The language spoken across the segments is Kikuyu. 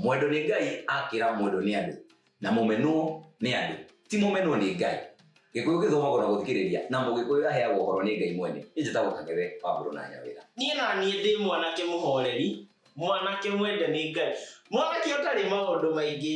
mwendwo nĩ ngai akĩra mwendwo nĩ andũ na mũmenwo nĩ andũ ti mũmenwo nĩ ngai gĩkũyũ gĩthomagwo na gũthikĩrĩria na mũgĩkũyũ aheagwo ũhoro nĩ ngai mwene nĩ njĩtagwo kang'ethe wa mbũrũ na nyawĩra niĩ na niĩ ndĩ mwanake mũhoreri mwanake mwende nĩ ngai mwanake ũtarĩ maũndũ maingĩ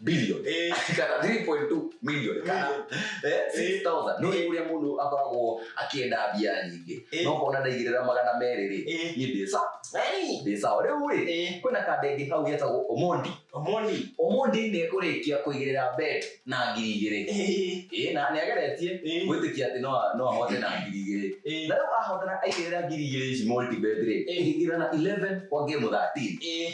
billion Eh. kana 3.2 million kana eh, 6000 no Eh. uria mundu akoragwo akienda mbia nyingĩ Eh. no kona ndaigirira magana merĩ rĩ Eh. ni ndĩsa Hey. ndĩsa rĩu rĩ Eh. kwina kandenge kau getagwo omondi Omoni. omondi nĩ ekũrĩkia kũigĩrĩra bet na ngiri igĩrĩ Eh. Ĩĩ, na nĩ ageretie Eh. gwĩtĩkia atĩ no- no ahote na ngiri igĩrĩ Eh. na rĩu ahotana aigĩrĩra ngiri igĩrĩ ici multibet rĩ Eh. ĩgĩkĩra na 11 kwa game 13 Eh.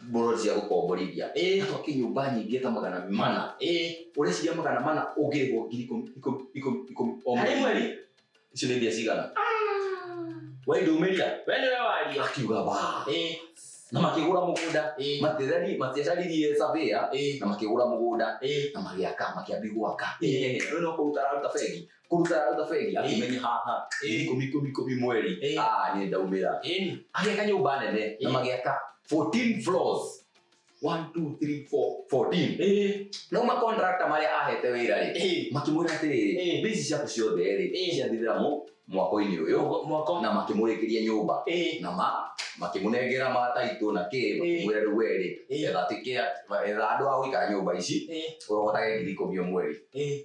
mburoti cia gũkomborithia Eh. atwake nyũmba nyingĩ ta magana mana mana ĩĩ ũreciria magana mana ũngĩrĩhwo ngiri ikũmi- ikũmi- ikũmi- ikũmi o harĩ mweri mweri icio nĩ mbia cigana we ndũmĩria we nĩwe waria akiuga ba ĩĩ na makĩgũra mũgũnda ĩĩ Matirari- matiacaririe savia ĩĩ na makĩgũra mũgũnda ĩĩ na magĩaka makĩambi gwaka Ĩĩ. no kũruta araruta bengi kũruta rũtha bengi akĩmenye haha Ĩĩ. ikũmi ikũmi ikũmi mweri Ĩĩ. ah nĩ ndaumĩra Ĩni. agĩaka nyũmba nene na Ĩĩ. magĩaka 14 floors 1 2 3 4 14 Ĩĩ. no ma contractor marĩa ahete wĩra rĩ Ĩĩ. makĩmwĩra atĩrĩrĩ Ĩĩ. bici ciaku ciothe rĩ Ĩĩ. ciathirĩra mu mwako-inĩ ũyũ Mwa- Mwako. na makĩmũrĩkĩria nyũmba Ĩĩ. na ma makĩmũnengera mataitũ na kĩ makĩmwĩra rĩu werĩ Ĩĩ. etha tikĩa etha andũ a gũikara nyũmba ici Ĩĩ. ũrogotage ngiri ikũmi o mweri Ĩĩ.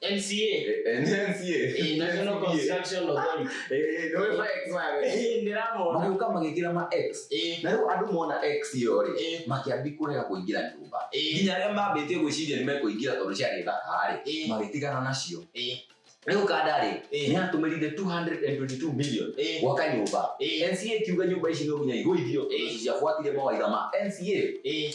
NCA. NCA. Eh, na National Construction Authority. Eh, no we flex man. Eh, ndiramona. Maguka magikira ma X. Eh. Na riu andu mona X yo ri. Eh. Makiambi kurega kuingira nyumba. Eh. Nginya aria mambite gwiciria ni mekuingira tondu ciari thaka ri. Eh. Magitigana nacio. Eh. Riu kada ri. Eh. Ni atumirire 222 million. Eh. Gwaka nyumba. Eh. NCA kiuga nyumba ici no nginya igwithio. Eh. Ciafuatire mawaitha ma NCA. Eh.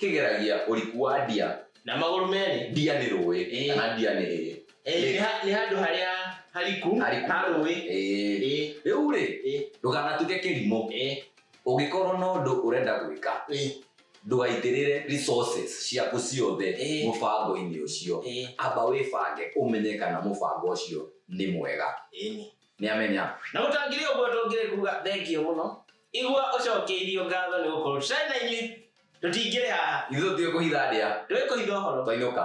kĩgeragia ũriku wa ndia na magũrũ merĩ ndia nĩ rũĩ Ĩĩ. kana ndia nĩ ĩĩ Ĩĩ, Nĩ- nĩ ha- nĩ handũ harĩa hariku Hariku. ha rũĩ Ĩĩ. Ĩĩ, rĩu rĩ Ĩĩ. ndũkanatuke kĩrimũ ĩĩ, ũngĩkorwo na ũndũ ũrenda gwĩka ĩĩ, ndũgaitĩrĩre resources ciaku ciothe Ĩĩ. mũbango-inĩ ũcio ĩĩ, amba wĩbange ũmenye kana mũbango ũcio nĩ mwega ĩĩ. nĩamenya na mũtangĩrĩ ũguo tũngĩrĩ kuga thengio mũno Igua ũcokeirio ngatho nĩ gũkorwo tũtarĩ na inyuĩ tũtingĩrĩ haha. Ithuĩ tũtiũĩ kũhitha ndĩa. Tũĩ kũhitha ũhoro. Twainũka.